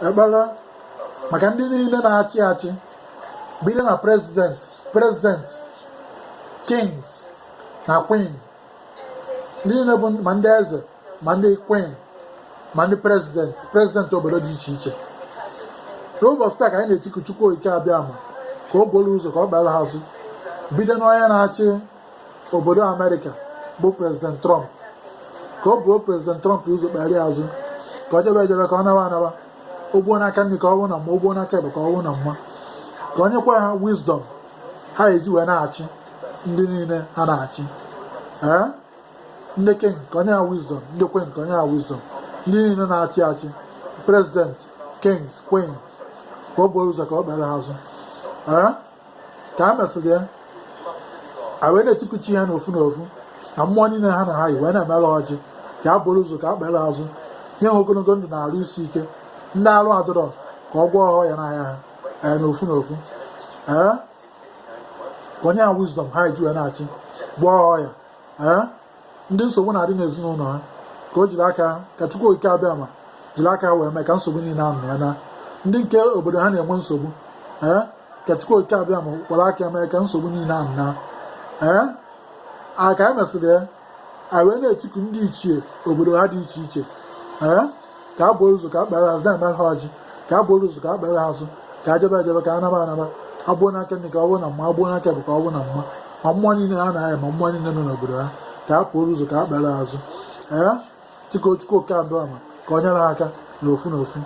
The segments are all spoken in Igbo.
ekpere maka ndị niile na-achị achị bido na prezidenti prezidenti kings na queen ndị niile bụ ma ndị eze ma ndị queen ma ndị prezidenti prezidenti obodo dị iche iche n'ụbọchị taa ka anyị na-etiku Chukwu Okike Abịama ka o buru ụzọ ka ọ kpere ha azụ bido n'onye na-achị obodo amerịka bụ prezident trump ka o buru prezident trump ụzọ kpere ya azụ ka ọ jebe ejebe ka ọ naba anaba o gbuo n'aka nri ka ọ bụ na mma o gbuo n'aka ekpe ka ọ bụ na mma ka o nyekwa ha wisdom ha eji wee na-achị ndị niile ha na-achị ee ndị king ka o nye ha wisdom ndị queen ka o nye ha wisdom ndị niile na-achị achị prezident kings queen ka o buru ụzọ ka ọ kpere ha azụ ee ka e mesịrị ya a wee na-etiku chi ha n'ofu n'ofu na mmụọ niile ha na ha yi wee na-emere ọjị ka ha buru ụzọ ka ha kpere azụ nye ha ogologo ndụ na arụ isi ike ndị arụ adịrọ ka ọ gwọọ ha ọya na-aya ha ee n'ofu n'ofu ee ka o nye ha wisdom ha eji wee na-achị gwọọ ha ọya ee ndị nsogbu na-adị n'ezinụlọ ha ka o jiri aka ka Chukwu Okike Abịama jiri aka wee mee ka nsogbu niile ahụ naa ndị nke obodo ha na-enwe nsogbu ee ka Chukwu Okike Abịama kwara aka mee ka nsogbu niile ahụ naa ee a ka e mesịrị ya a wee na-etiku ndị ichie obodo ha dị iche iche ee ka ha buru ụzọ ka ha kpere azụ na-emere ha ọjị ka ha buru ụzọ ka ha kpere azụ ka ha jebe ejebe ka ha naba anaba ha gbuo n'aka nri ka ọ bụrụ na mma ha gbuo n'aka ekpe ka ọ bụrụ na mma ma mmụọ niile ha na ha yi ma mmụọ niile nọ n'obodo ha ka ha buru ụzọ ka ha kpere azụ ee dịka Chukwu Okike Abịama ka o nyere ha aka na ofu na ofu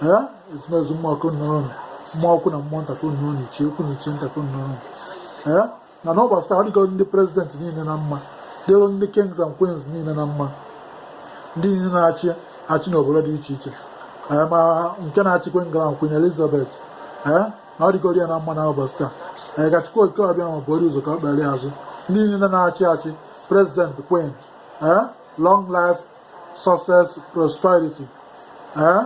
ee ezumezu mmụọ ka unu nọrọ mmụọ ukwu na mmụọ nta ka unu nọrọ ichie ukwu na ichie nta ka unu nọrọ ee na n'ụbọchị taa ọ dịgo ndị prezidenti niile na mma dịrị ndị kings and queens niile na mma ndị niile na-achị achị n'obodo dị iche iche ma nke na-achịkwa England Queen Elizabeth ee na ọ dịgoro ya na mma na ụbọchị taa ee ka Chukwu Okike Abịama buru ụzọ ka ọ kpere azụ ndị niile na-achị achị prezidenti queen ee long life success prosperity ee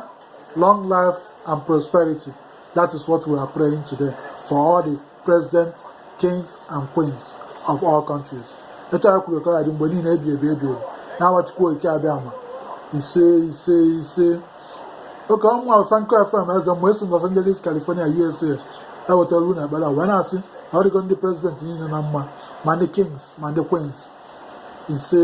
long life and prosperity that is what we are praying today for all the president kings and queens of all countries etu a kwuru ka ọ dị mgbe niile ebi ebi ebi ebi n'aha Chukwu Okike Abịama ise ise ise oke ọnwa ọsa nkọ fm eze mgbe esi Los Angeles California USA ewetara unu ekpere wee na-asị na ọ dịgo ndị prezidenti niile na mma ma ndị kings ma ndị queens ise